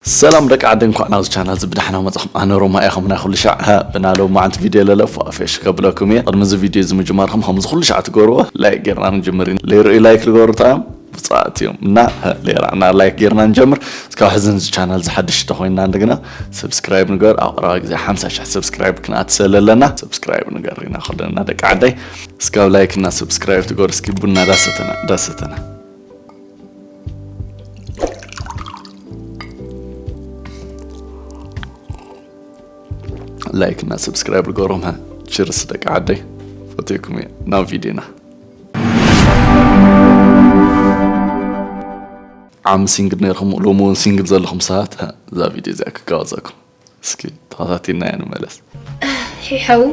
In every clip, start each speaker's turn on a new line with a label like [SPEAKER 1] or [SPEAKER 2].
[SPEAKER 1] ሰላም ደቂ ዓደይ እንኳዕ ናብዚ ቻናል እዚ ብዳሕና መጻኹም ኣነ ሮማ እየ ከምናይ ኩሉ ሻዕ ብና ሎማዓንቲ ቪድዮ ለለ ፏፌሽ ከብለኩም እየ ቅድሚ እዚ ቪድዮ እዚ ምጅማርኩም ከምዚ ኩሉ ሻዕ ትገብርዎ ላይክ ጌርና ንጅምር ኢና ለይርእዩ ላይክ ልገብሩ ታዮም ብፁዓት እዮም እና ሌራና ላይክ ጌርና ንጀምር እስካብ ሕዚ ንዚ ቻናል ዝሓድሽ ተኮይንና እንደገና ሰብስክራይብ ንገር ኣብ ቀረባ ግዜ ሓምሳ ሽሕ ሰብስክራይብ ክንኣት ሰለለና ሰብስክራይብ ንገር ኢና ከለና ደቂ ዓደይ እስካብ ላይክ እና ሰብስክራይብ ትገሩ እስኪ ቡና ዳሰተና ዳሰተና ላይክ እና ሰብስክራይብ ርገሮም ችርስ ደቂ ዓደይ ፈትኩም እየ ናብ ቪድዮና ዓሚ ሲንግል ነርኹም ሎሚ እውን ሲንግል ዘለኹም ሰባት እዛ ቪድዮ እዚኣ ክጋወዘኩም እስኪ ተኸታቲልና ንመለስ። ሒሐው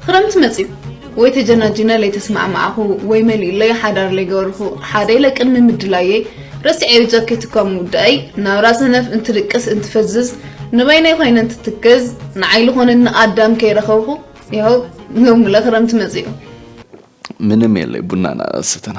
[SPEAKER 2] ኽረምቲ መፅዩ ወይ ተጀናጂነ ለይተስማዕማዕኹ ወይ መሊኡለይ ሓዳር ለይገበርኹ ሓደ ኢለ ቅድሚ ምድላየይ ረሲዐዮ ጃኬት እኳ ምውዳእይ ናብራ ሰነፍ እንትድቅስ እንትፈዝዝ ንበይነይ ኾይነ እንትትክዝ ንዓይ ልኾነኒ ኣዳም ከይረኸብኹ ይሀው ሎምለ ኽረምቲ መፅዩ
[SPEAKER 1] ምንም የለይ ቡናና ሰተና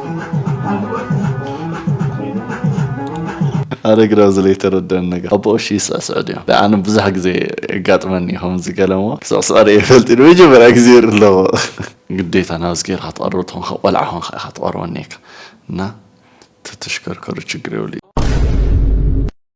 [SPEAKER 1] ኣረ ግዳ እዚ ለይተረደኣኒ ነገር ኣብ ብቕሽ ይስዕስዕ ድዩ ዳኣ ኣነ ብዙሕ ግዜ የጋጥመኒ እዩ ከምዚ ገለ እሞ ክስዕስዖ ሪኤ ይፈልጥ ንመጀመርያ ግዜ ይርኢ ኣለኹ። ግዴታ ናብዚ ጌርካ ትቐርቦ ተኾንካ ቆልዓ ኮንካ ኢኻ ትቐርቦ እኒኤካ እና ተተሽከርከሩ ችግር የብሉይ።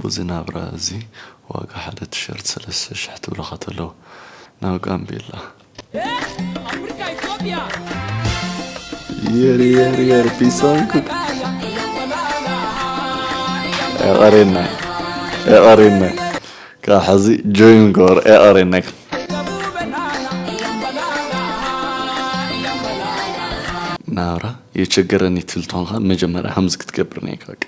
[SPEAKER 1] ቡዚ ናብራ እዚ ዋጋ ሓደ ትሸርት ሰለስተ ሽሕ ትብለኻ ተለው ናብ ጋምቤላ። የር የር የር ቢሳንኩ ኤቐሬና ኤቐሬና ካብ ሕዚ ጆይን ገበሩ ኤቐሬና ናብራ የቸገረኒ ትብል ተኾንካ መጀመርያ ሃምዚ ክትገብር ነይካ።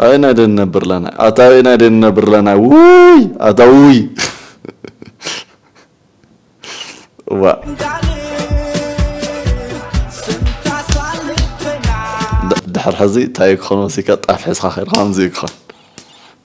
[SPEAKER 1] ኣበየናይ ድኣ ንነብር ኣለና ኣታ ኣበየናይ ድኣ ንነብር ኣለና ውይ ኣታ ውይ ዋእ ድሕር ሕዚ ታይ ክኾን ወሲካ ጣፍ ሕዝካ ከይድካ ከምዚ እዩ ክኾን።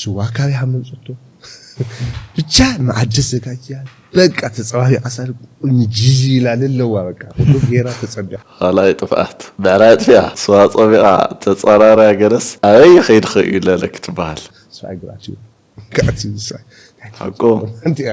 [SPEAKER 3] ስዋ ካበይ ኣመንጸቶ ብቻ መኣዲ ኣዘጋጅያ በቃ ተጸባቢቃ ሳል ቁኒ ጂጂ ኢላ ልለዋ በቃ ኩሉ ጌራ ተጸቢቃ። ካልኣይ ጥፍኣት
[SPEAKER 1] ብዕራይ ኣጥፊኣ ስዋ ጸሚቓ ተጻራርያ ገለስ ኣበይ ይኸይድኺ እዩ ለለ ክትበሃል። ስራይ ግራት እዩ
[SPEAKER 3] ክኣ እቲ ንሳ ሓቁ።
[SPEAKER 1] ሓንቲ እያ።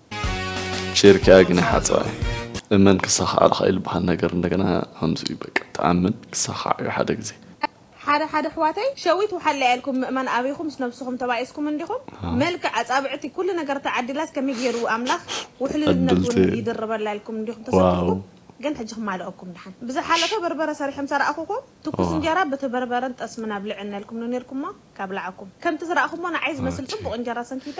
[SPEAKER 1] ጭርክያ ግን ይሓጽባ እዩ እመን ክሳኻዓልኻ እዩ ልባሃል ነገር እንደገና ከምዚ እዩ በቃ ትኣምን ክሳኻዕ እዩ ሓደ ግዜ። ሓደ ሓደ
[SPEAKER 4] ኣሕዋተይ ሸዊት ውሓለያ ኢልኩም ምእማን ኣቢኩም ምስ ነብስኩም ተባኢስኩም እንዲኩም መልክዕ ኣጻብዕቲ ኩሉ ነገር ተዓዲላስ ከመይ ጌሩ ኣምላክ ውሕልልነት ውን ይድርበላ ኢልኩም እንዲኩም ተሰኪፍኩም ግን ሕጂ ክማልኦኩም ድሓን ብዝሓለፈ በርበረ ሰሪሖም ሰራኣኩኩም ትኩስ እንጀራ ብቲ በርበረን ጠስምን ኣብልዕኒ ኢልኩም ዶ ኔርኩሞ ካብላዓኩም ከምቲ ዝራኣኩሞ ንዓይ ዝመስል ጽቡቅ እንጀራ ሰንኪተ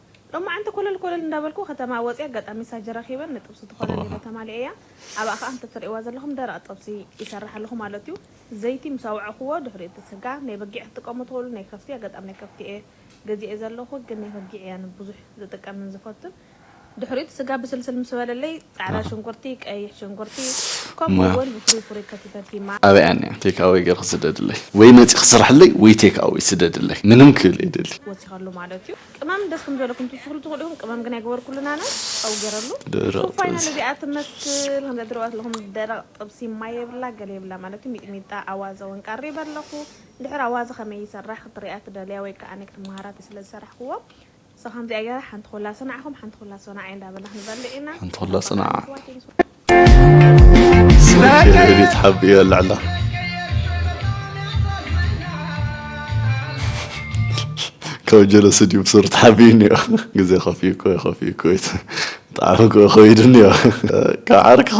[SPEAKER 4] ሎማዓንቲ ኮለል ኮለል እንዳበልኩ ከተማ ወፅየ ኣጋጣሚ ሳጅ ረኪበ ንጥብሲ ትኮነ ሊለ ተማሊኤያ ኣብኣ ከዓ ከምቲ ትሪእዋ ዘለኩም ደረቅ ጥብሲ ይሰርሕ ኣለኩ ማለት እዩ ዘይቲ ምስ ኣውዐኩዎ ድሕሪኡ እቲ ስጋ ናይ በጊዕ ክትጥቀሙ ትክእሉ ናይ ከፍቲ ኣጋጣሚ ናይ ከፍቲ እየ ገዚኤ ዘለኩ ግን ናይ በጊዕ እየ ኣነ ብዙሕ ዝጥቀምን ዝፈቱን ድሕሪኡ እቲ ስጋ ብስልስል ምስ በለለይ ፃዕዳ ሽንኩርቲ ቀይሕ ሽንኩርቲ ከምኡ እውን ብፍሩይ ፍሩይ ከቲፈ ቲማ። ኣበይ ኣኒኣ ቴክ ኣወይ
[SPEAKER 1] ገርኪ ስደድለይ ወይ መፂኪ ስርሕለይ ወይ ቴክ ኣወይ ስደድለይ ምንም ክብል የደሊ። ወሲከሉ ማለት እዩ።
[SPEAKER 4] ቅመም ደስ ከም ዝበለኩም ትውስክሉ ትክእሉ ኢኩም ቅመም ግን ኣይገበርኩሉን ኣነ ጨው ገረሉ ደረቅ ሱብ ፋይናል ጥብሲ እዚኣ ትመስል ከምዛ ትሪእዋ ዘለኩም ደረቅ ጥብሲ ማይ የብላ ገለ የብላ ማለት እዩ ሚጥሚጣ ኣዋዘ ውን ቀሪበ ኣለኩ እንድሕር ኣዋዘ ከመይ ይሰራሕ ክትሪኣ ትደልያ ወይ ክኣ ኣነ ክትማሃራ ስለ ዝሰራሕክዎ so ከምዚኣ ገይረ ሓንቲ ኮላ ሰናዕኩም ሓንቲ ኮላ ሰናዓይ እንዳበልና ክንበልዕ ኢና ሓንቲ ኮላ ሰናዓ
[SPEAKER 1] ኣሕዋተይ ምስ ቤት ሓቢ ይበልዐላ ካብ ጀለሲ ድዩ ብሱር ተሓቢኡ እኒኦ ግዜ ከፍዩ ኮ ከፍዩ ኮ ጣዕሚ ኮ ከይዱ እኒኦ ካብ ዓርክኻ